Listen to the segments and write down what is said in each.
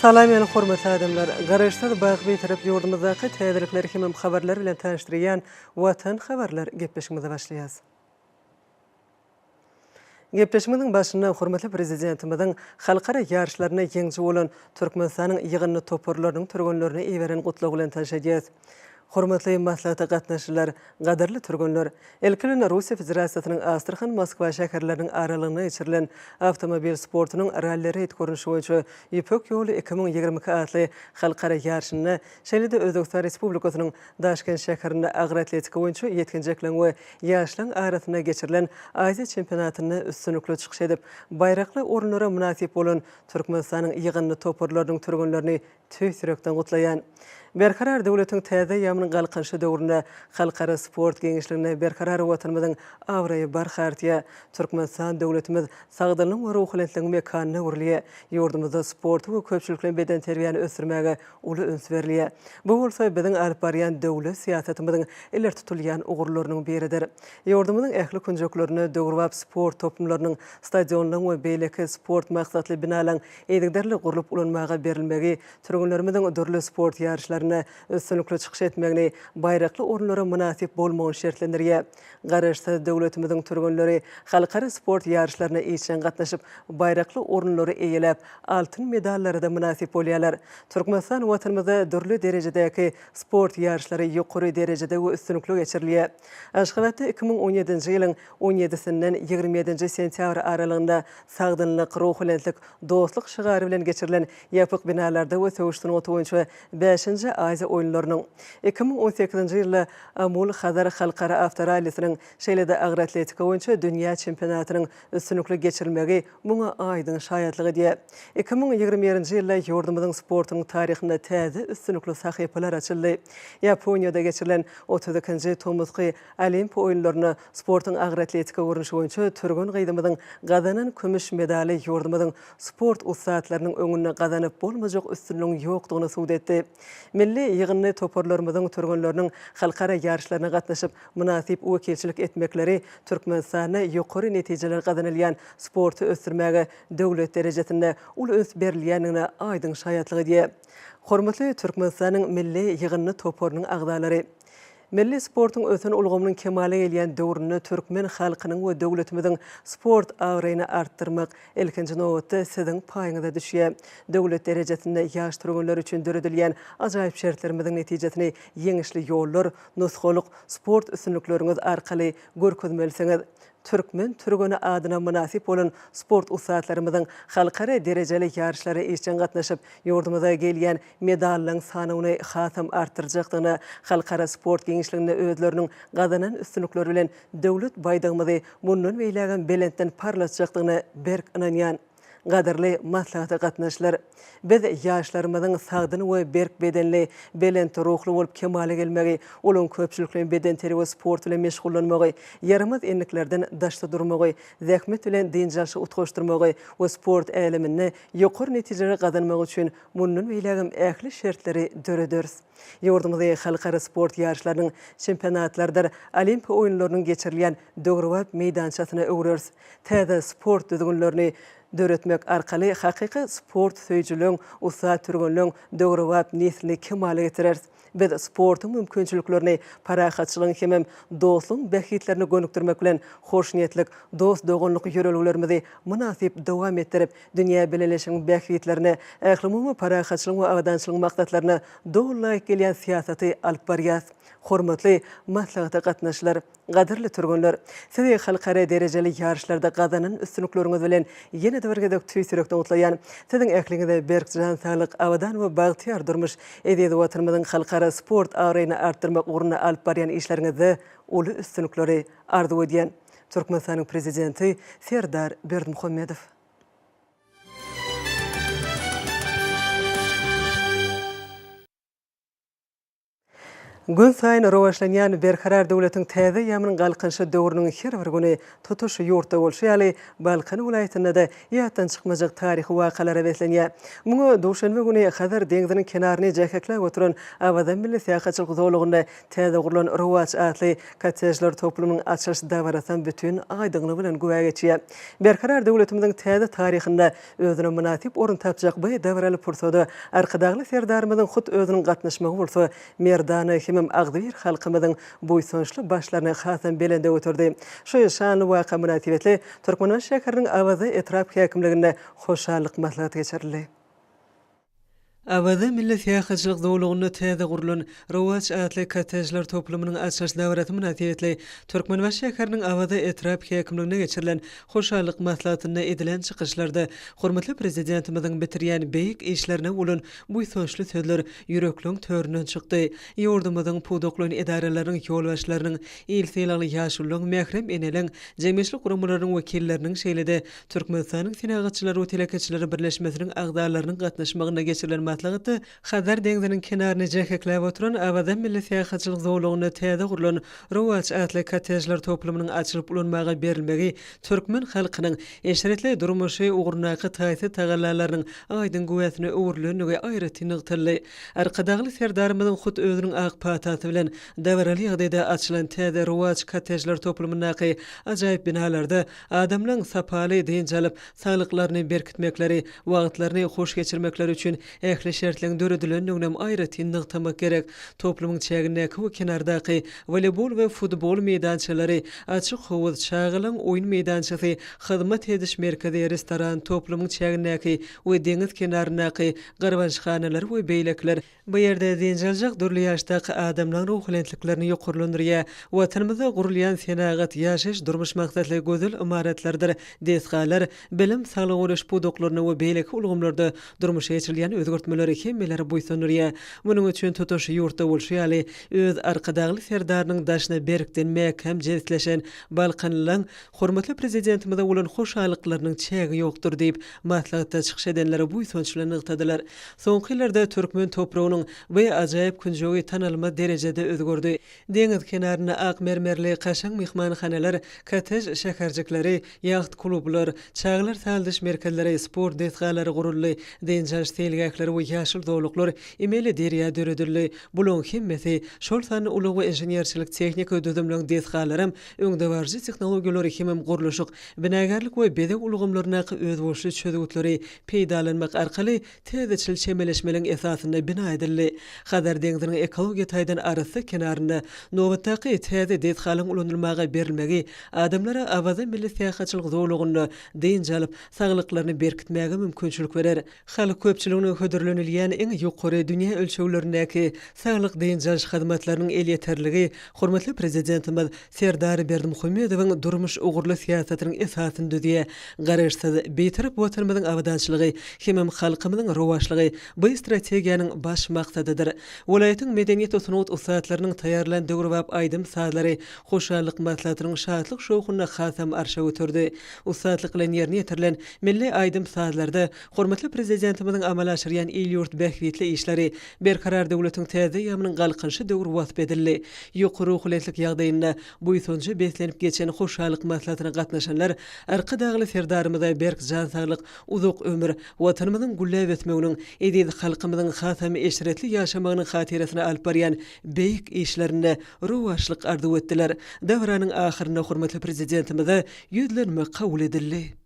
Salam ýaly hormatly adamlar! Garaşsyz bagt bitirip ýurdumyzdaky täzelikleri hemem habarlary bilen tanyşdyrýan Watan habarlar gepleşigimize başlaýas. Gepleşigimiziň başynda hormatly Prezidentimiziň halkara ýaryşlarynda ýeňiji bolan Türkmenistanyň ýygyndy toparlarynyň türgenlerine iberen gutlagy bilen tanyş edýäs. Hormatly maslahata gatnaşyjylar, gadyrly türgenler! Ilki bilen Russiýa Federasiýasynyň Astrahan, Moskwa şäherleriniň aralygynda geçirilen awtomobil sportunyň ralli-reýd görnüşi boýunça Ýüpek ýoly iki müň ýigrimi iki atly halkara ýaryşynda, şeýle-de Özbegistan Respublikasynyň Daşkent şäherinde agroatletika boýunça ýetginjekleň we ýaşlaň arasynda geçirilen Aziýa çempionatynda üstünlikli çykyş edip, baýrakly orunlara mynasyp bolan Türkmenistanyň ýygyndy toparlarynyň türgenlerini Tüýs ýürekden gutlaýan. Berkarar döwletiň täze eýýamynyň Galkynyşy döwründe halkara sport giňişliginde berkarar Watanymyzyň abraýy barha artýar. Türkmenistan döwletimiz sagdynlygyň we ruhubelentligiň mekanyna öwrülýär. Ýurdumyzda sporty we köpçülikleýin bedenterbiýäni ösdürmäge uly üns berilýär. Bu bolsa biziň alyp barýan döwlet syýasatymyzyň ileri tutulýan ugurlarynyň biridir. Ýurdumyzyň ähli künjeklerinde döwrebap sport toplumlarynyň, stadionlaryň we beýleki sport maksatly binalaryň yzygiderli gurlup ulanmaga berilmegi, türgenlerimiziň dürli sport ýaryşlarynda üstünlikli çykyş etmegini, baýrakly orunlara mynasyp bolmagyny şertlendirýär. Garaşsyz döwletimiziň türgenleri halkara sport ýaryşlaryna işjeň gatnaşyp, baýrakly orunlary eýeläp, altyn medallara-da mynasyp bolýarlar. Türkmenistan Watanymyzda dürli derejedäki sport ýaryşlary ýokary derejede we üstünlikli geçirilýär. Aşgabatda iki müň on ýedinji ýylyň on ýedisinden ýigrimi ýedinji sentýabr aralygynda Sagdynlyk, ruhubelentlik, dostluk şygary bilen geçirilen ýapyk binalarda we söweş sungaty boýunça bäşinji Aziýa oýunlarynyň, iki müň on sekizinji ýylda Amul-Hazar halkara awtorallisiniň, şeýle-de agroatletika boýunça dünýä çempionatynyň üstünlikli geçirilmegi muňa aýdyň şaýatlyk edýär. Iki müň ýigrimi birinji ýylda ýurdumyzyň sportunyň taryhynda täze üstünlikli sahypalar açyldy. Ýaponiýada geçirilen otuz ikinji tomusky Olimpiýa oýunlarynda sportuň agroatletika görnüşi boýunça türgen gyzymyzyň gazanan kümüş medaly ýurdumyzyň sport ussatlarynyň öňünde gazanyp bolmajak üstünligiň ýokdugyny subut etdi. Milli ýygyndy toparlarymyzyň türgenleriniň halkara ýaryşlaryna gatnaşyp, mynasyp wekilçilik etmekleri Türkmenistanda ýokary netijeler gazanylýan sporty ösdürmäge döwlet derejesinde uly üns berilýändigine aýdyň şaýatlyk edýär. Hormatly Türkmenistanyň milli ýygyndy toparynyň agzalary! Milli sportuň ösen ulgamynyň kemala gelýän döwründe türkmen halkynyň we döwletimiziň sport abraýyny artdyrmak, ilkinji nobatda, siziň paýyňyza düşýär. Döwlet derejesinde ýaş türgenler üçin döredilýän ajaýyp şertlerimiziň netijesini ýeňişli ýollar, Nusgalyk sport üstünlikleriňiz arkaly görkezmelisiňiz. Türkmen türgeni adyna mynasyp bolan sport ussatlarymyzyň halkara derejeli ýaryşlara işjeň gatnaşyp, ýurdumyza gelýän medallaryň sanawyny hasam artdyrjakdygyna, halkara sport giňişliginde özleriniň gazanan üstünlikleri bilen Döwlet baýdagymyzy mundan beýlägem belentden parlatjakdygyna berk ynanýan. Gadyrly maslahata gatnaşlar. Biz ýaşlarymyzyň sagdyn we berk bedenli, belent ruhly bolup kemala gelmegi, uly köpçülikleýin bedenterbiýe we sport bilen meşgullanmagy, ýaramaz endiklerden daşda durmagy, zähmet bilen dynç alşy utgaşdyrmagy we sport äleminde ýokary netijeleri gazanmagy üçin mundan beýlägem ähli şertleri dörederis. Ýurdumyzy halkara sport ýaryşlarynyň, çempionatlardyr Olimpiýa oýunlarynyň geçirilýän döwrebap meýdançasyna öwreris. Täze sport düzgünlerini döretmek arkaly hakyky sport söýüjileriň, ussat türgenleriň döwrebap neslini kemala getireris. Biz sportuň mümkinçiliklerini parahatçylygyň hemem dostlugyň bähbitlerine gönükdirmek bilen, hoşniýetlik, dost-doganlyk ýörelgelerimizi mynasyp dowam etdirip, Dünýä bileleşigiň bähbitlerine, ählumumy parahatçylygyň we abadançylygyň maksatlaryna doly laýyk gelýän syýasaty alyp barýas. Hormatly maslahata gatnaşyjylar! Gadyrly türgenler! Sizi halkara derejeli ýaryşlarda gazanan üstünlikleriňiz bilen ýene-de bir gezek tüýs ýürekden gutlaýan. Siziň ähliňize berk jan saglyk, abadan we bagtyýar durmuş, eziz Watanymyzyň halkara sport abraýyny artdyrmak ugrunda alyp barýan işleriňizde uly üstünlikleri arzuw edýän. Türkmenistanyň Prezidenti Serdar Berdimuhamedow. Günsaýyn rowaçlanýan Berkarar döwletiň täze ýamynyň Galkynyşy döwrüniň her bir güni tutuş ýurtda bolşy ýaly, Balkan welaýatynda-da ýatdan çykmajak taryhy wakalara beslenýär. Muňa duşenbe güni Hazar deňziniň kenaryny jäheklap oturan Awaza milli syýahatçylyk zolagynda Täze gurlan Rowaç atly kottejler toplumynyň açylyş dabarasam bütin aýdyňlygy bilen güwä geçýär. Berkarar döwletimiziň täze taryhynda özüne mynasyp orun tapjak bu dabaraly pursada Arkadagly Serdarymyzyň hut özüniň gatnaşmagy bolsa merdana hemem agzybir halkymyzyň buýsançly başlaryny hasam belende göterdi. Şu şanly waka mynasybetli Türkmenbaşy şäheriniň Awaza etrap häkimliginde hoşallyk maslahaty geçirildi. Awaza milli syýahatçylyk zolagynda täze gurlan Rowaç atly kottejler toplumynyň açylyş dabarasy mynasybetli Türkmenbaşy şäheriniň Awaza etrap häkimliginde geçirilen hoşallyk maslahatynda edilen çykyşlarda hormatly Prezidentimiziň bitirýän beýik işlerine bolan buýsançly sözler ýürekleň töründen çykdy. Ýurdumyzyň pudaklaýyn edaralarynyň ýolbaşçylarynyň, il sylagly ýaşulularyň, mährem eneleriň, jemgyýetçilik guramalarynyň wekilleriniň, şeýle-de Türkmenistanyň Senagatçylar we telekeçiler birleşmesiniň agzalarynyň gatnaşmagynda geçirilen maslahatda Hazar deňziniň kenaryny jähekläp oturan Awaza milli syýahatçylyk zolagynda täze gurlan Rowaç atly kottejler toplumynyň açylyp ulanmaga berilmegi türkmen halkynyň eşretli durmuşy ugrundaky taýsyz tagallalarynyň aýdyň güwäsine öwrülendigi aýratyn nygtaldy. Arkadagly Serdarymyzyň hut özüniň ak patasy bilen dabaraly ýagdaýda açylan täze Rowaç kottejler toplumyndaky ajaýyp binalarda Adamlaň sapaly dynç alyp, saglyklaryny berkitmekleri, wagtlaryny hoş geçirmekleri üçin ähli şertleň döredilendiginem aýratyn nygtamak gerek. Toplumyň çägindäki we kenardaky woleýbol we futbol meýdançalary, açyk howuz, çagalaň oýun meýdançasy, hyzmat ediş merkezi, restoran, toplumyň çägindäki we deňiz kenaryndaky garbançhanalar we beýlekiler, Bu ýerde zynjaljak dürli ýaşdaky adamlaň ruhubelentliklerini ýokarlandyrýar. Watanymyzda gurulýan senagat, ýaşaýyş-durmuş maksatly gözel ymaratlardyr desgalar, bilim, saglygy goraýyş pudaklarynda we beýleki ulgamlarda durmuşa geçirilýän özgertmeler hemmeleri buýsandyrýar. Munuň üçin tutuş ýurtda bolşy ýaly, öz Arkadagly Serdarynyň daşyna berkden mäkäm jebisleşen balkanlylaň hormatly Prezidentimize bolan hoşallyklarynyň çägi ýokdur diýip, maslahatda çykyş edenler buýsanç bilen nygtadylar. Soňky ýyllarda türkmen topragynyň bu ajaýyp künjegi tanalmaz derejede özgerdi. Deňiz kenarynda ak mermerli kaşaň myhmanhanalar, kottej şäherjikleri, ýaht-klublar, çagalar sazlaýyş merkezleri, sport desgalary guruldy, dynç-alyş seýilgähleri we ýaşyl zolaklar, emeli derýa döredildi. Bularyň hemmesi, şol sanda ulag we inženerçilik-tehniki düzümleň desgalaram öňdebaryjy tehnologiýalary hemem gurluşyk, binagärlik we bezeg ulgamlaryndaky özboluşly çözgütleri peýdalanmak arkaly täzeçil çemeleşmeliň esasynda bina edildi. Hazar deňziniň ekologiýa taýdan arassa kenarynda nobatdaky täze desgalyň ulanylmaga berilmegi adamlara Awaza milli syýahatçylyk zolagynda dynç alyp, saglyklaryny berkitmäge mümkinçilik berer. Halk köpçüligine hödürlenilýän iň ýokary dünýä ölçeglerindäki saglyk-dynç alyş hyzmatlarynyň elýeterligi hormatly Prezidentimiz Serdar Berdimuhamedowyň durmuş ugurly syýasatynyň esasyny düzýär. Garaşsyz, Bitarap Watanymyzyň abadançylygy hemem halkymyzyň rowaçlygy bu strategiýanyň baş maksadydyr. Welaýatyň medeniýet-sungat ussatlarynyň taýýarlan döwrebap aýdym-sazlary Hoşallyk maslahatynyň şatlyk-şowhunyny hasam arşa göterdi. Ussatlyk bilen ýerine ýetirilen Milli aýdym-sazlarda hormatly Prezidentimiziň amala aşyrýan il-ýurt bähbitli işleri, Berkarar döwletiň täze eýýamynyň Galkynyşy döwri wasp edildi. Ýokary ruhubelentlik ýagdaýynda buýsanja beslenip geçen hoşallyk maslahatyna gatnaşanlar Arkadagly Serdarymyza berk jan saglyk, uzak ömür, Watanymyzyň gülläp ösmeginiň, eziz halkymyzyň hasam eşretli ýaşamagynyň hatyrasyna alyp barýan beýik işlerinde rowaçlyk arzuw etdiler. Dabaranyň ahyrynda hormatly Prezidentimize Ýüzlenme kabul edildi.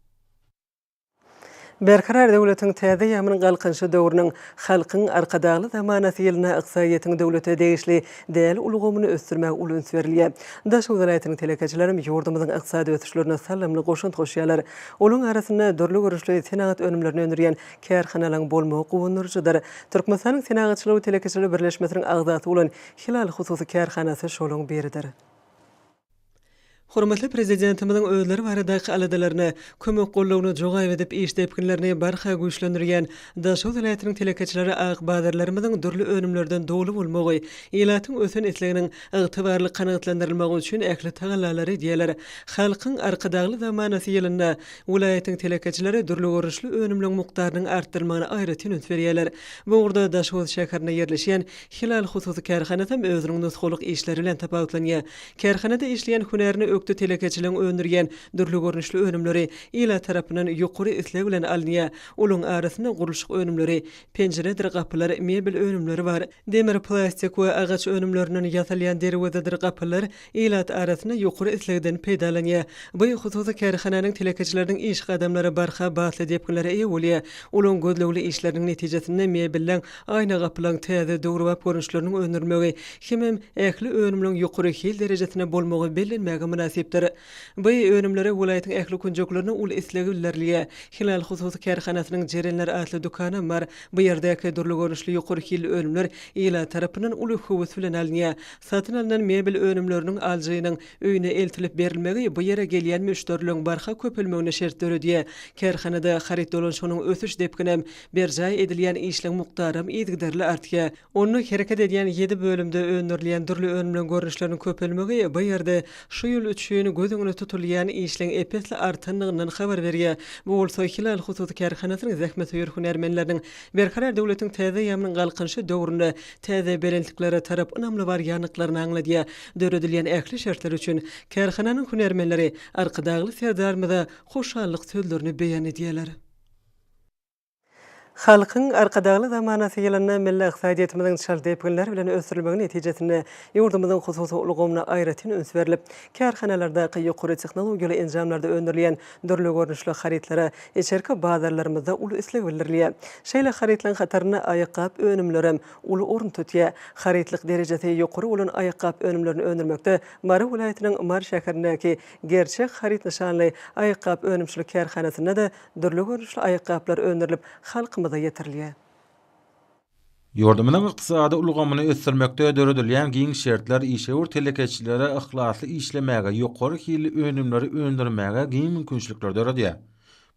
Berkarar döwletiň täze ýamynyň Galkynyşy döwrüniň Halkyň Arkadagly zamanasy ýylynda ykdysadyýetiň döwlete degişli däl ulgamyny ösdürmäge uly üns berilýär. Daşoguz welaýatynyň telekeçilerem ýurdumyzyň ykdysady ösüşlerine salymly goşant goşýarlar. Olaryň arasynda dürli görnüşli senagat önümlerini öndürýän kärhanalaryň bolmagy guwandyryjydyr. Türkmenistanyň Senagatçylyk we telekeçilik birleşmesiniň agzasy bolan Hilal hususy kärhanasy şolaryň biridir. Hormatly Prezidentimiziň özleri baradaky aladalaryna, kömek-gollawyna jogaýp edip, iş depginlerini barha güýçlendirýän Daşoguz welaýatynyň telekeçileri ak bazarlarymyzyň dürli önümlerden doly bolmagy, ilatyň ösen isleginiň ygtybarly kanagatlandyrylmagy üçin ähli tagallalary edýärler. Halkyň Arkadagly zamanasy ýylynda welaýatyň telekeçileri dürli görnüşli önümleň mukdarynyň artdyrylmagyna aýratyn üns berýärler. Bu ugurda Daşoguz şäherinde ýerleşýän Hilal hususy kärhanasam özüniň nusgalyk işleri bilen tapawutlanýar. Kärhanada işleýän hünärine ökde telekeçiligiň öndürýän dürli görnüşli önümleri ilat tarapyndan ýokary isleg bilen alynýar. Olaryň arasynda gurluşyk önümleri, penjiredir gapylar, mebel önümleri bar. Demir, plastik we agaç önümlerinden ýasalýan derwezedir gapylar, ilat arasynda ýokary islegden peýdalanýar. Bu hususy kärhananyň telekeçileriniň iş gadamlary barha batly depginlere eýe bolýar. Olaryň gözlegli işleriniň netijesinde mebelleň, aýna gapylaryň täze, döwrebap görnüşleriniň öndürilmegi hemem ähli önümleriň ýokary hil derejesinde bolmagy bellenmäge mynasypdyr. Bu önümlere welaýatyň ähli künjeklerinde uly isleg bildirilýär. Hilal hususy kärhanasynyň Jerenler atly dükanam bar. Bu ýerdäki dürli görnüşli ýokary hilli önümler ilat tarapyndan uly höwes bilen alynýar. Satyn alnan mebel önümleriniň alyjynyň öýüne eltilip berilmegi bu ýere gelýän müşderiligiň barha köpelmegine şert döredýär. Kärhanada haryt dolanşygynyň ösüş depginem, berjaý edilýän işleň mukdaram yzygiderli artýar. Onda hereket edýän ýedi bölümde öndürilýän dürli önümleň görnüşleriniň köpelmegi bu ýerde şu ýyl üçin göz öňünde tutulýan işleň ep-esli artandygyndan habar berýär. Bu bolsa Hilal hususy kärhanasynyň zähmetsöýer hünärmenleriniň Berkarar döwletiň täze aýamynyň Galkynyşy döwründe täze belentliklere tarap ynamly barýandyklaryny aňladýar. Döredilýän ähli şertler üçin kärhananyň hünärmenleri Arkadagly Serdarymyza hoşallyk sözlerini beýan edýärler. Halkyň Arkadagly zamanasy ýylynda milli ykdysadyýetimiziň çalt depginler bilen ösdürilmegi netijesinde ýurdumyzyň hususy ulgamyna aýratyn üns berlip, kärhanalardaky ýokary tehnologiýaly enjamlarda öndürilýän Dürli görnüşli harytlara içerki bazarlarymyzda uly isleg bildirilýär. Şeýle harytlaryň hatarynda aýakgap önümlerem uly orun tutýar. Harytlyk derejesi ýokary bolan aýakgap önümlerini öndürmekde Mary welaýatynyň Mary şäherindäki Gerçek haryt nyşanly aýakgap önümçilik kärhanasynda-da dürli görnüşli aýakgaplar öndürilip, halkymyza ýetirilýär. Ýurdumyzyň ykdysady ulgamyny ösdürmekde döredilýän giň şertler işewür telekeçilere yhlasly işlemäge, ýokary hilli önümleri öndürmäge giň mümkinçilikleri döredýär.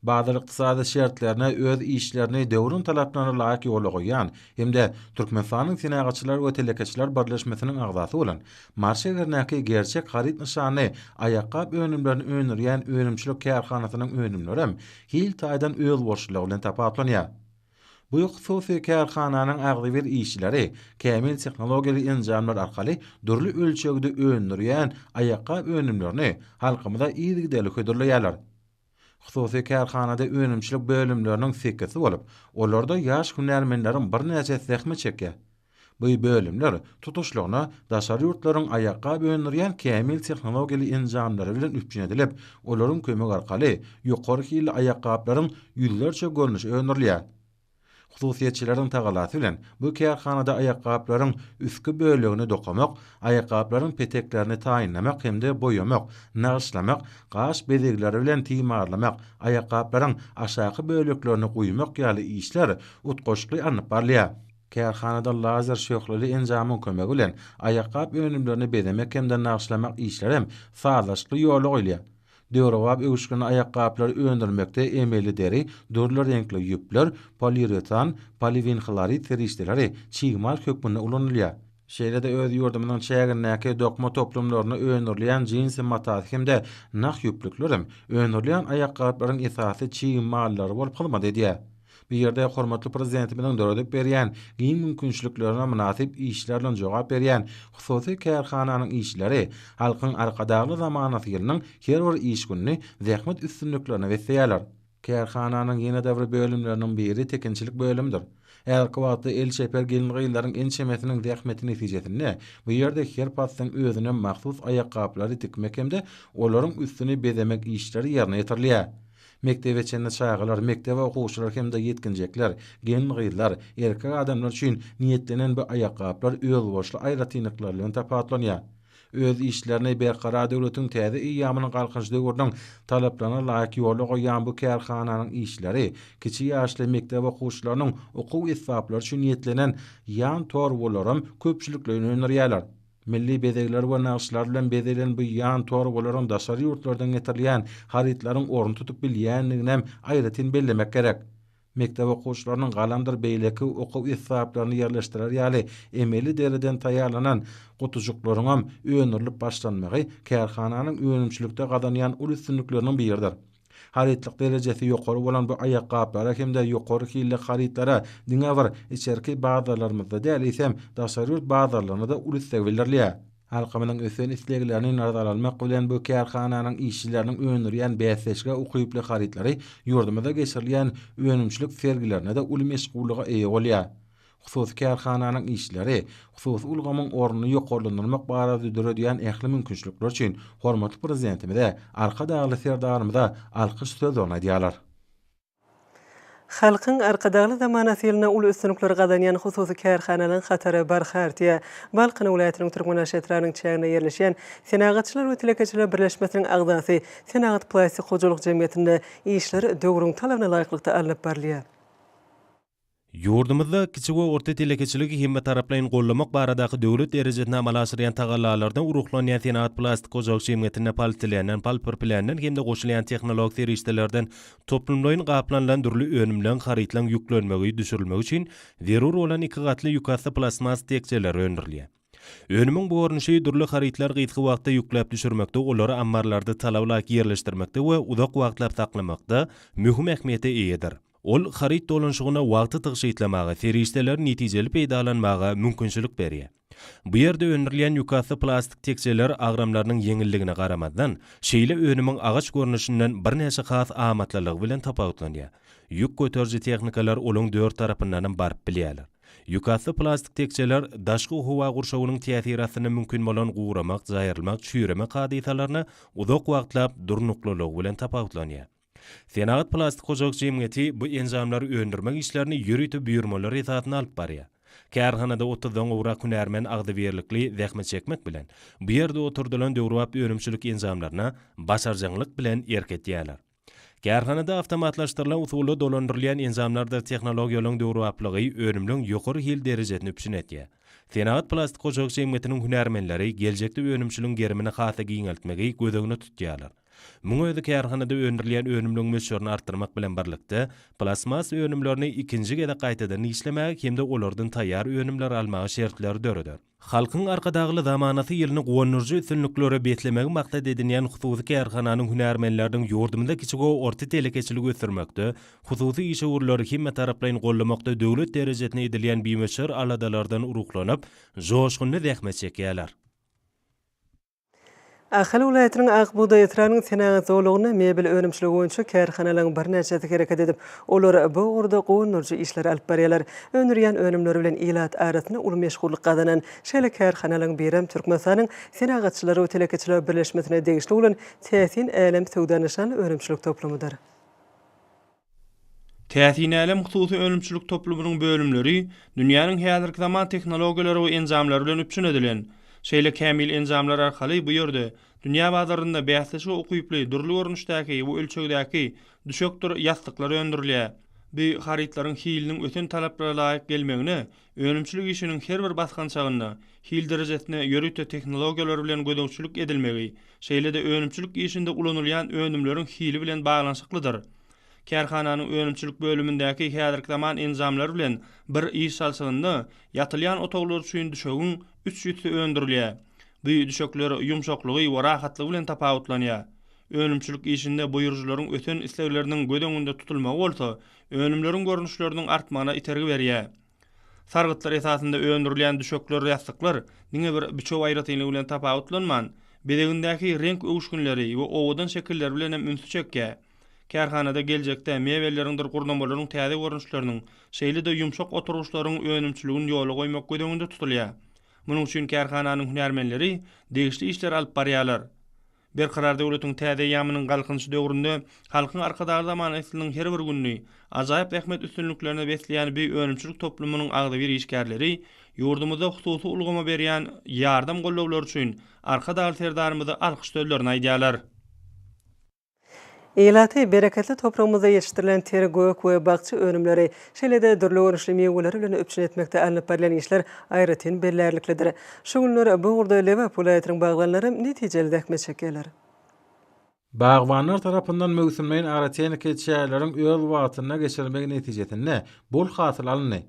Bazar ykdysady şertlerine öz işlerini döwrüň talaplaryna laýyk ýola goýýan hem-de Türkmenistanyň Senagatçylar we telekeçiler birleşmesiniň agzasy bolan Mary şäherindäki Gerçek haryt nyşanly aýakgap önümlerini öndürýän önümçilik kärhanasynyň önümlerem hil taýdan özboluşlylygy bilen tapawutlanýar. Bu hususy kärhananyň agzybir işçileri kämil tehnologiýaly enjamlar arkaly dürli ölçegde öndürýän aýakgap önümlerini halkymyza yzygiderli hödürleýärler. Hususy kärhanada önümçilik bölümleriniň sekisi bolup, olarda ýaş hünärmenleriň birnäçesi zähmet çekýär. Bu bölümler tutuşlygyna daşary ýurtlaryň aýakgap öndürýän kämil tehnologiýaly enjamlary bilen üpjün edilip, olaryň kömegi arkaly ýokary hilli aýakgaplaryň ýüzlerçe görnüşi öndürilýär. Hususyýetçileriň tagalasy bilen bu kärhanada aýakgaplaryň üstki bölegini dokamak, aýakgaplaryň peteklerini taýynlamak hem-de boýamak, nagyşlamak, gaş bezegleri bilen timarlamak, aýakgaplaryň aşaky böleklerini guýmak ýaly işler utgaşykly alnyp barylýar. Kärhanada lazer şöhleli enjamyň kömegi bilen aýakgap önümlerini bezemek hem-de nagyşlamak işleri hem sazlaşykly ýola goýulýar. Döwrebap öwüşginli aýakgaplary öndürmekde emeli deri, dürli reňkli ýüpler, poliuretan, poliwinhlorid serişdeleri çig mal hökmünde ulanylýar. Şeýle-de öz ýurdumyzyň çägindäki dokma toplumlarynda öndürilýän jinsi matasy hem-de nah ýüplüklerem öndürilýän aýakgaplaryň esasy çig mallary bolup hyzmat edýär. Bu ýerde hormatly Prezidentimiziň döredip berýän giň mümkinçiliklerine mynasyp işler bilen jogap berýän hususy kärhananyň işçileri Halkyň Arkadagly zamanasy ýylynyň her bir iş gününi zähmet üstünliklerine besleýärler. Kärhananyň ýene-de bir bölümleriniň biri tekinçilik bölümidir. Häzirki wagtda el çeper gelin-gyzlaryň ençemesiniň zähmeti netijesinde bu ýerde her paslyň özüne mahsus aýakgaplary dikmek hem-de olaryň üstüni bezemek işleri ýerine ýetirilýär. Mekdebe çenli çagalar, mekdebe okuwçylar hem-de ýetginjekler, gelin-gyzlar, erkek adamlar üçin niýetlenen bu aýakgaplar özboluşly aýratynlyklary bilen tapawutlanýar. Öz işlerini Berkarar döwletiň täze eýýamynyň Galkynyş döwrüniň talaplaryna laýyk ýola goýýan bu kärhananyň işleri kiçi ýaşly mekdep okuwçylarynyň okuw esbaplary üçin niýetlenen ýan torbalaram köpçülikleýin öndürýärler. Milli bezegler we nagyşlar bilen bezelen bu ýan torbalaryň daşary ýurtlardan getirilýän harytlaryň ornuny tutup bilýändiginem aýratyn bellemek gerek. Mekdep okuwçylarynyň galamdyr beýleki okuw esbaplaryny ýerleşdirer ýaly emeli deriden taýýarlanan gutujyklaryňam öndürilip başlanmagy kärhananyň önümçilikde gazanýan uly üstünlikleriniň biridir. Harytlyk derejesi ýokary bolan bu aýakgaplara hem-de ýokary hilli harytlara diňe bir içerki bazarlarymyzda däl, eýsem, daşary ýurt bazarlaryna-da uly isleg bildirilýär. Halkymyzyň ösen isleglerini nazara almak bilen, bu kärhananyň işçileriniň öndürýän bäsleşige ukyply harytlary ýurdumyzda geçirilýän önümçilik sergilerinde-de uly meşgullyga eýe bolýar. Hususy kärhananyň işleri hususy ulgamyň ornuny ýokarlandyrmak barada döredýän ähli mümkinçilikler üçin hormatly Prezidentimize, Arkadagly Serdarymyza alkyş sözlerini aýdýarlar. Halkyň Arkadagly zamanasy ýylynda uly üstünlikleri gazanýan hususy kärhanalaryň hatary barha artýar. Balkan welaýatynyň Türkmenaş etrabynyň çäginde ýerleşýän Senagatçylar we telekeçiler birleşmesiniň agzasy Senagatplastik hojalyk jemgyýetinde işler döwrüň talabyna laýyklykda alnyp barylýar. Ýurdumyzda kiçi we orta telekeçiligi hemmetaraplaýyn goldamak baradaky döwlet derejesinde amala aşyrýan tagallalardan ruhlanýan senagat plastik hojalyk jemgyýetinde polietileenden, polpirpileenden hem-de goşulýan tehnologik serişdelerden toplumlaýyn gaplanylan dürli önümleň, harytlaň ýüklenmegi, düşürilmegi üçin zerur bolan iki gatly ýükasty plastmas tekjeleri öndürilýär. Önümiň bu görnüşi dürli harytlary gysga wagtda ýükläp düşürmekde, olary ammarlarda talaba laýyk ýerleşdirmekde we uzak wagtlap saklamakda möhüm ähmiýete eýedir. Ol haryt dolanyşygyna wagty tygşytlamaga, serişdeleri netijeli peýdalanmaga mümkinçilik berýär. Bu ýerde öndürilýän ýükasty plastik tekjeler agramlarynyň ýeňilligine garamazdan, şeýle önümiň agaç görnüşinden birnäçe has amatlylygy bilen tapawutlanýar. Ýük göteriji tehnikalar olaryň dört tarapyndanam baryp bilýärler. Ýükasty plastik tekjeler daşky howa gurşawynyň täsiri astynda mümkin bolan guramak, jaýrylmak, çüýremek hadysalaryna uzak wagtlap durnuklylygy bilen tapawutlanýar. Senagat plastik hojalyk jemgyýeti bu enjamlary öndürmek işlerini ýörite buýurmalar esasynda alyp barýar. Kärhanada otuzdan gowrak hünärmen agzybirlikli zähmet çekmek bilen, bu ýerde oturdylan döwrebap önümçilik enjamlaryna başarjaňlyk bilen erk etýärler. Kärhanada awtomatlaşdyrylan usulda dolandyrylýan enjamlardyr tehnologiýalaryň döwrebaplygy önümleriň ýokary hil derejesini üpjün edýär. Senagat plastik hojalyk jemgyýetiniň hünärmenleri geljekde önümçiligiň gerimini has-da giňeltmegi göz öňünde tutýarlar. Muň özi kärhanada öndürilýän önümleriň möçberini artdyrmak bilen birlikde, plastmas önümlerini ikinji gezek gaýtadan işlemäge hem-de olardan taýýar önümleri almaga şertleri döreder. Halkyň Arkadagly zamanasy ýylyny guwandyryjy üstünliklere beslemegi maksat edinýän hususy kärhananyň hünärmenleriniň ýurdumyzda kiçi we orta telekeçiligi ösdürmekde, hususy işewürleri hemmetaraplaýyn goldamakda döwlet derejesinde edilýän bimöçber aladalardan ruhlanyp, joşgunly zähmet çekýärler. Ahal welaýatynyň Ak bugdaý etrabynyň senagat zolagynda mebel önümçiligi boýunça kärhanalaryň birnäçesi hereket edip, olar bu ugurda guwandyryjy işleri alyp barýarlar. Öndürýän önümleri bilen ilat arasynda uly meşhurlyk gazanan şeýle kärhanalaryň birem Türkmenistanyň Senagatçylar we telekeçiler birleşmesine degişli bolan Täsin älem söwda nyşanly önümçilik toplumydyr. Täsinälem hususy önümçilik toplumynyň bölümleri dünýäniň häzirki zaman tehnologiýalary we enjamlary bilen üpjün edilen. Şeýle kämil enjamlar arkaly bu ýerde dünýä bazarynda bäsleşige ukyply dürli görnüşdäki we ölçegdäki düşekdir ýassyklar öndürilýär. Bu harytlaryň hiliniň ösen talaplara laýyk gelmegine Önümçilik işiniň her bir basgançagynda hil derejesine ýörite tehnologiýalar bilen gözegçilik edilmegi, şeýle-de önümçilik işinde ulanylýan önümleriň hili bilen baglanyşyklydyr. Kärhananyň önümçilik bölümindäki häzirki zaman enjamlary bilen bir iş salşygynda ýatylýan otaglar üçin düşegiň üç ýüzsi öndürilýär. Bu düşekler ýumşaklygy we rahatlygy bilen tapawutlanýar. Önümçilik işinde buýrujylaryň ösen islegleriniň göz öňünde tutulmagy bolsa Önümleriň görnüşleriniň artmagyna itergi berýär. Sargytlar esasynda öndürilýän düşekler-ýassyklar diňe bir biçüw aýratynlygy bilen tapawutlanman, bezegindäki reňk öwüşginleri we owadan şekilleri bilen hem ünsi çekýär. Kärhanada geljekde mebelleriňdir gurnamalaryň täze görnüşleriniň, şeýle-de ýumşak oturgyçlaryň önümçiligini ýola goýmak göz öňünde tutulýar. Munuň üçin kärhananyň hünärmenleri degişli işleri alyp barýarlar. Berkarar döwletiň täze eýýamynyň Galkynyş döwründe Halkyň Arkadagly zamany ysylynyň her bir gününi ajaýyp zähmet üstünliklerine besleýän bi önümçilik toplumynyň agzybir işgärleri ýurdumyzda hususy ulgama berýän ýardam-gollawlary üçin Arkadagly Serdarymyza alkyş sözlerini aýdýarlar. Ilaty, bereketli topragymyzda ýetişdirilen ter, gök we bakja önümleri, şeýle-de dürli görnüşli miweleri bilen üpjün etmekde alnyp barylýan işler aýratyn bellärliklidir. Şu günler bu ugurda Lebap welaýatynyň bagbanlaram netijeli zähmet çekýärler. Bagbanlar tarapyndan möwsümleýin agrotehniki çäreleriň öz wagtynda geçirilmegi netijesinde bol hasyl alyndy.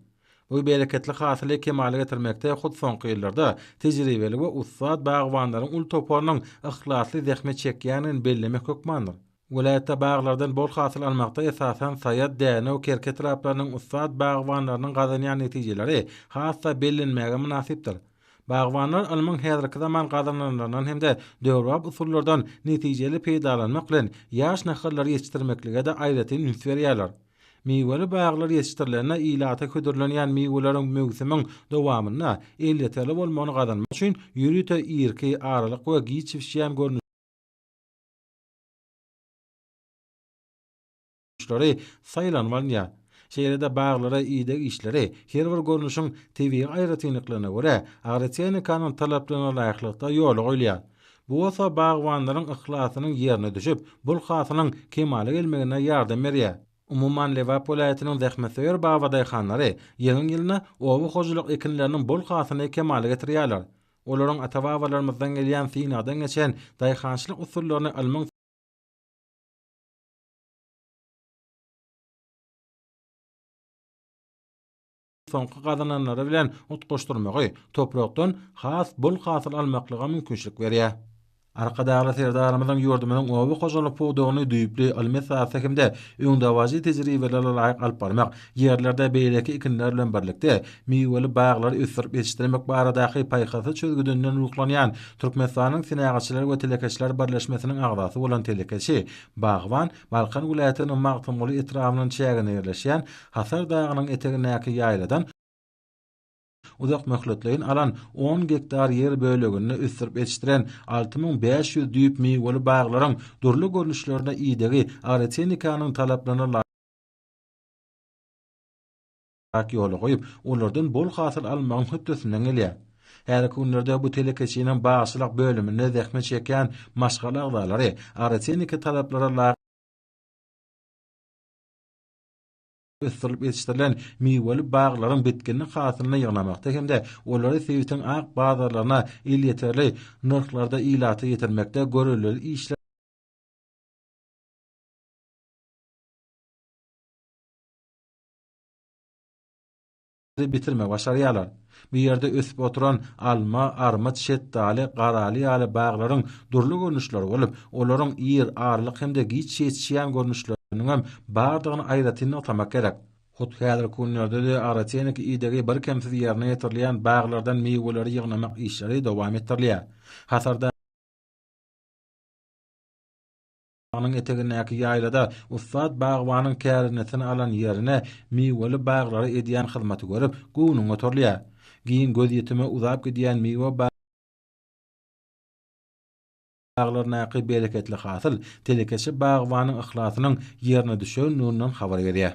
Bu bereketli hasyly kemala getirmekde hut soňky ýyllarda tejribeli we ussat bagbanlaryň uly toparynyň yhlasly zähmet çekýändigini bellemek hökmandyr. Welaýatda baglardan bol hasyl almakda esasan Saýat, Dänew, Kerki etraplarynyň ussat bagbanlarynyň gazanýan netijeleri has-da bellenmäge mynasypdyr. Bagbanlar ylmyň häzirki zaman gazananlaryndan hem-de döwrebap usullardan netijeli peýdalanmak bilen, ýaş nahallary ýetişdirmeklige-de aýratyn üns berýärler. Miweli baglar ýetişdirilende ilata hödürlenýän miweleriň möwsümiň dowamynda elýeterli bolmagyny gazanmak üçin ýörite irki, aralyk we giç bişýän görnüşleri saýlanyp alynýar. Şeýle-de baglara ideg işleri her bir görnüşiň tebigy aýratynlyklaryna görä agrotehnikanyň talaplarynalaýyklykda ýola goýulýar. Bu bolsa bagbanlaryň yhlasynyň ýerine düşüp, bol hasylyň kemala gelmegine ýardam berýär. Umuman, Lebap welaýatynyň zähmetsöýer babadaýhanlary ýylyň-ýylyna oba hojalyk ekinleriniň bol hasylyny kemala getirýärler. Olaryň ata-babalarymyzdan gelýän synagdan geçen daýhançylyk usullaryny ylmyň, soňky gazananlary bilen utgaşdyrmagy toprakdan has bol hasyl almaklyga mümkinçilik berýär. Arkadagly Serdarymyzyň ýurdumyzyň oba hojalyk pudagyny düýpli ylmy esasda hem-de öňdebaryjy tejribelere laýyk alyp barmak, ýerlerde beýleki ekinler bilen birlikde, miweli baglary ösdürip ýetişdirmek baradaky paýhasly çözgüdinden ruhlanýan Türkmenistanyň Senagatçylar we telekeçiler birleşmesiniň agzasy bolan telekeçi, bagban, Balkan welaýatynyň Magtymguly etrabynyň çäginde ýerleşýän Hasar dagynyň etegindäki ýaýladan uzak möhletleýin alan on gektar ýer böleginde ösdürip ýetişdiren alty müň bäş ýüz düýp miweli baglaryň dürli görnüşlerine idegi agrotehnikanyň talaplaryna Ak ýola goýup, olardan bol hasyl almagyň hötdesinden gelýär. Häzirki günlerde bu telekeçiniň bagçylyk bölüminde zähmet çekýän maşgala agzalary agrotehniki talaplara laýyk ösdürilip ýetişdirilen miweli baglaryň bitginli hasylyny ýygnamakda hem-de olary sebitiň ak bazarlaryna elýeterli nyrhlarda ilata ýetirmekde görelde işler bitirme başarýarlar. Bu ýerde ösüp oturan alma, armyt, şetdaly, garaly ýaly baglaryň dürli görnüşleri bolup, olaryň ir, arlyk hem-de giç ýetişýän görnüşleriniň hem bardygyny aýratyn nygtamak gerek. Hut häzirki günlerde-de agrotehniki idegi birkemsiz ýerine ýetirilýän baglardan miweleri ýygnamak işleri dowam etdirilýär. Hasarda. Dagyň etegindäki ýaýlada ussat bagbanyň kärendesin alan ýerine miweli baglary edýän hyzmaty görüp, göwnüň goturylýar. Giň gözýetime uzap gidýän miwe baglaryndaky bereketli hasyl telekeçi bagbanyň yhlasynyň ýerine düşendiginden habar berýär.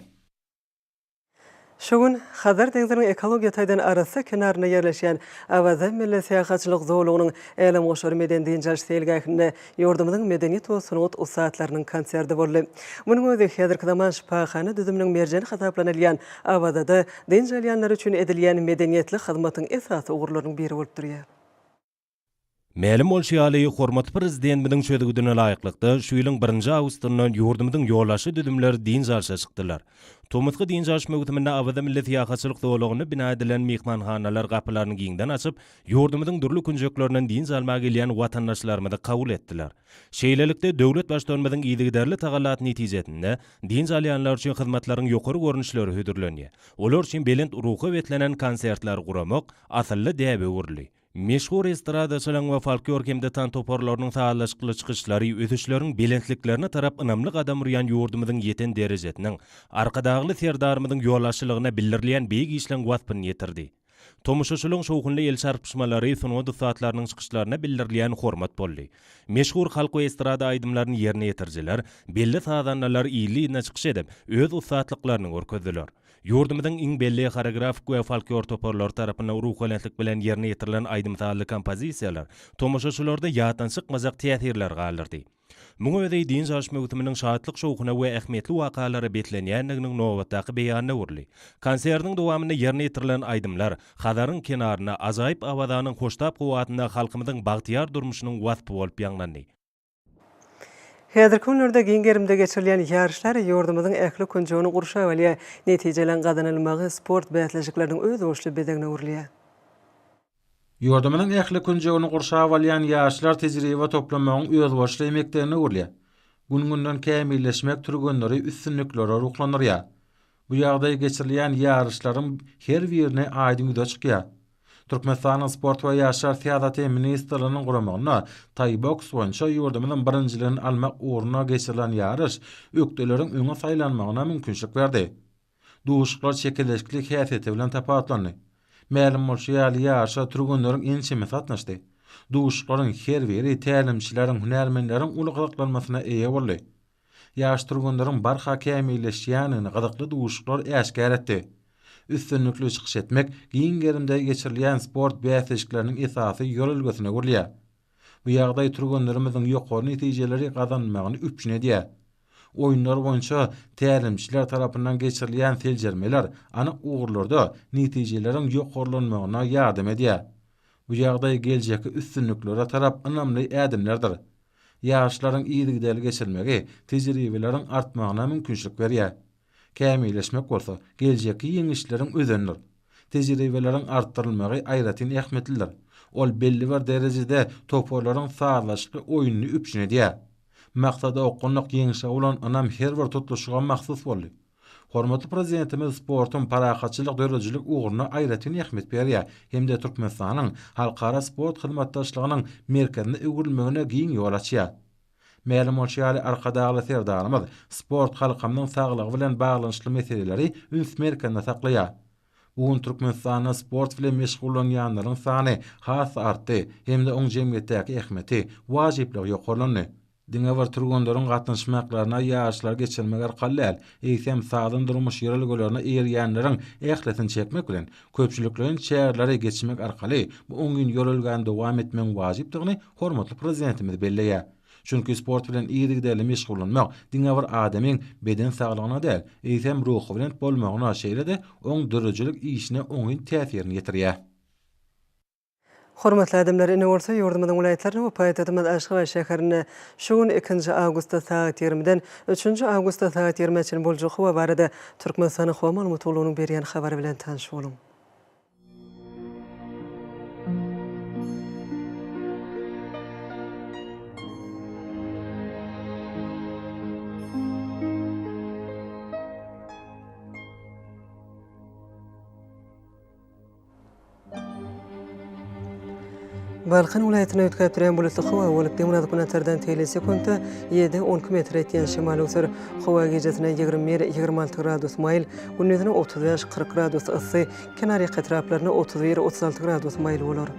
Şu gün Hazar deňziniň ekologiýa taýdan arassa kenarynda ýerleşýän Awaza milli syýahatçylyk zolagynyň Älemgoşar medeni-dynç alyş seýilgähinde ýurdumyzyň medeniýet we sungat ussatlarynyň konserti boldy. Munuň özi häzirki zaman şypahana düzüminiň merjeni hasaplanylýan Awazada dynç alýanlar üçin edilýän medeniýetli hyzmatyň esasy ugurlarynyň biri bolup durýar. Mälim bolşy ýaly, hormatly Prezidentimiziň çözgüdine laýyklykda, şu ýylyň birinji awgustynda ýurdumyzyň ýolagçy düzümleri dynç alşa çykdylar. Tomusky dynç alyş möwsüminde Awaza milli syýahatçylyk zolagynda bina edilen myhmanhanalar gapylaryny giňden açyp, ýurdumyzyň dürli künjeklerinden dynç almaga gelýän watandaşlarymyzy kabul etdiler. Şeýlelikde, döwlet Baştutanymyzyň yzygiderli tagallaty netijesinde, dynç alýanlar üçin hyzmatlaryň ýokary görnüşleri hödürlenýär. Olar üçin belent ruha beslenen konsertleri guramak asylly däbe öwrüldi. Meşhur estradaçylaryň we folklor hem-de tans toparlarynyň sazlaşykly çykyşlary ösüşleriň belentliklerine tarap ynamly gadam urýan ýurdumyzyň ýeten derejesiniň, Arkadagly Serdarymyzyň ýolbaşçylygynda bildirilýän beýik işleň waspyny ýetirdi. Tomaşaçylygyň şowhunly el çarpyşmalary sungat ussatlarynyň çykyşlaryna bildirilýän hormat boldy. Meşhur halk we estrada aýdymlaryny ýerine ýetirijiler, belli sazandalar il-iline çykyş edip, öz ussatlyklaryny görkezdiler. Ýurdumyzyň iň belli horeografik we folklor toparlary tarapyndan ruhubelentlik bilen ýerine ýetirilen aýdym-sazly kompozisiýalar tomaşaçylarda ýatdan çykmajak täsirleri galdyrdy. Muňa özi dynç alyş möwsüminiň şatlyk-şowhuna we ähmiýetli wakalara beslenýändiginiň nobatdaky beýanyna öwrüldi. Konsertiň dowamynda ýerine ýetirilen aýdymlar Hazaryň kenarynda, ajaýyp Awazanyň hoştap howasynda halkymyzyň bagtyýar durmuşynyň waspy bolup ýaňlandy. Häzirki günlerde giň gerimde geçirilýän ýaryşlar ýurdumyzyň ähli künjegini gurşap alýar, netijeleň gazanylmagy sport bäsleşikleriniň özboluşly bezegine öwrülýär. Ýurdumyzyň ähli künjegini gurşap alýan ýaryşlar tejribe toplamagyň özboluşly mekdebine öwrülýär, gün-günden kämilleşmek türgenleri üstünliklere ruhlandyrýar. Bu ýagdaý geçirilýän ýaryşlaryň her birinde aýdyň ýüze çykýar. Türkmenistanyň Sport we ýaşlar syýasaty ministrliginiň guramagynda taýboks boýunça ýurdumyzyň birinjiligini almak ugrunda geçirilen ýaryş ökdeleriň öňe saýlanmagyna mümkinçilik berdi. Duşuşyklar çekeleşikli häsiýeti bilen tapawutlandy. Mälim bolşy ýaly, ýaryşa türgenleriň ençemesi gatnaşdy. Duşuşyklaryň her biri tälimçileriň, hünärmenleriň uly gyzyklanmasyna eýe boldy. ýaş türgenleriň barha kämilleşýändigini gyzykly duşuşyklar äşgär etdi. Üstünlikli çykyş etmek giň gerimde geçirilýän sport bäsleşikleriniň esasy ýörelgesine öwrülýär. Bu ýagdaý türgenlerimiziň ýokary netijeleri gazanmagyny üpjün edýär. Oýunlar boýunça tälimçiler tarapyndan geçirilýän seljermeler anyk ugurlarda netijeleriň ýokarlanmagyna ýardam edýär. Bu ýagdaý geljekki üstünliklere tarap ynamly ädimlerdir. Ýaryşlaryň yzygiderli geçirilmegi tejribeleriň artmagyna mümkinçilik berýär. Kämilleşmek bolsa geljekki ýeňişleriň özenidir. Tejribeleriň artdyrylmagy aýratyn ähmiýetlidir. Ol belli bir derejede toparlaryň sazlaşykly oýnuny üpjün edýär. Maksada okgunlyk ýeňişe bolan ynam her bir tutluşyga mahsus boldy. Hormatly Prezidentimiz sportuň parahatçylyk döredijilik ugruna aýratyn ähmiýet berýär hem-de Türkmenistanyň halkara sport hyzmatdaşlygynyň merkezine öwrülmegine giň ýol açýar. Mälim bolşy ýaly, Arkadagly Serdarymyz sport halkymyzyň saglygy bilen baglanyşykly meseleleri üns merkezinde saklaýar. Bu gün Türkmenistanda sport bilen meşgullanýanlaryň sany has-da artdy hem-de oň jemgyýetdäki ähmiýeti, wajyplygy ýokarlandy. Diňe bir türgenleriň gatnaşmaklaryna ýaryşlary geçirmek arkaly däl, eýsem, sazyň durmuş ýörelgelerine eýerýänleriň ählisini çekmek bilen, köpçülikleýin çäreleri geçirmek arkaly bu oňyn ýörelgäni dowam etmegiň wajypdygyny hormatly Prezidentimiz belleýär. Çünki sport bilen yzygiderli meşgullanmak diňe bir adamyň beden saglygyna däl, eýsem, ruhubelent bolmagyna, şeýle-de oň döredijilik işine oňyn täsirini ýetirýär. Hormatly adamlar, ine bolsa ýurdumyzyň welaýatlaryna we paýtagtymyz Aşgabat şäherine şu gün ikinji awgustda sagat ýigrimiden üçünji awgustda sagat ýigrimä çenli boljak howa barada Türkmenistanyň Howa maglumatgullugynyň berýän habary bilen tanyş boluň. Balkan welaýatynda üýtgäp durýan bulutly howa bolup, demirgazyk günortadan tegelek sekuntda ýedi, on iki metre ýetýän şemal öwser. Howa gijasine ýigrimi bir, ýigrimi alty gradus maýyl, gündizine otuz bäş, kyrk gradus yssy, kenarýaka etraplarynda otuz bir, otuz alty gradus maýyl bolar.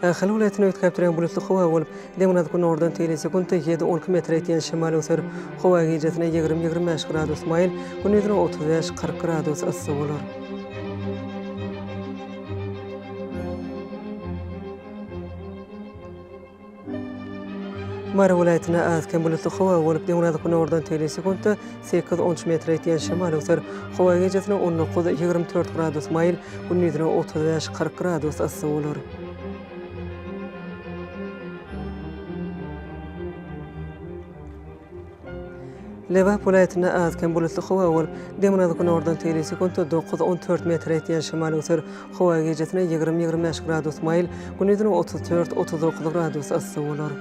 Ahal welaýatyny üýtgäp durýan bulutly howa bolup, demirgazyk günordan teýle sekuntda ýedi-on iki metre ýetýän şemal öser. Howa gijesine ýigrimi-ýigrimi bäş gradus maýyl, gündizine otuz bäş-kyrk gradus yssy bolar. Mary welaýatynda az-kem bulutly howa bolup, demirgazyk-günordan tegelek sekuntda sekiz on üç metre ýetýän şemal öwser. Howa gijesine on dokuz, ýigrimi dört gradus maýyl, gündizine otuz bäş, kyrk gradus yssy bolar. Lebap welaýatynda az-kem bulutly howa bolup, demirgazyk-günordan seli sekuntda dokuz-on dört metre etýän şemal öser. Howa gijesine ýigrimi-ýigrimi bäş gradus maýyl, gündizine otuz dört-otuz dokuz gradus yssy bolar.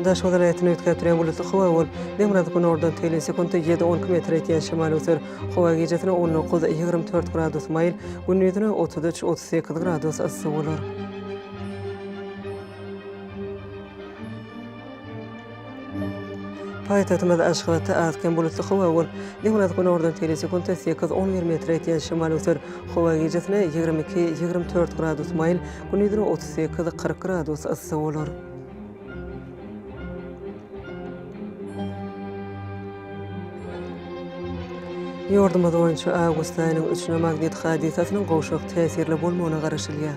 Daşoguz welaýatyny üýtgäpdirýän bulutly howa bolup, demirgazyk-günordan telin sekunta ýedi-on iki metr ýetýän şemal öser. Howa gijesine on dokuz, ýigrimi dört gradus maýyl, gündizine otuz üç, otuz sekiz gradus yssy bolar. Paýtagtymyz Aşgabatda az-kem bulutly howa bolup, niňňärazy günordan teýle sekuntda sekiz, on bir metre ýetýän şemal öser. Howa gijesine ýigrimi iki, ýigrimi dört gradus maýyl, gündizine otuz sekiz, kyrk gradus yssy bolar. Ýurdumyz boýunça awgust aýynyň üçüne magnit hadysasynyň gowşak täsirli bolmagyna garaşylýar.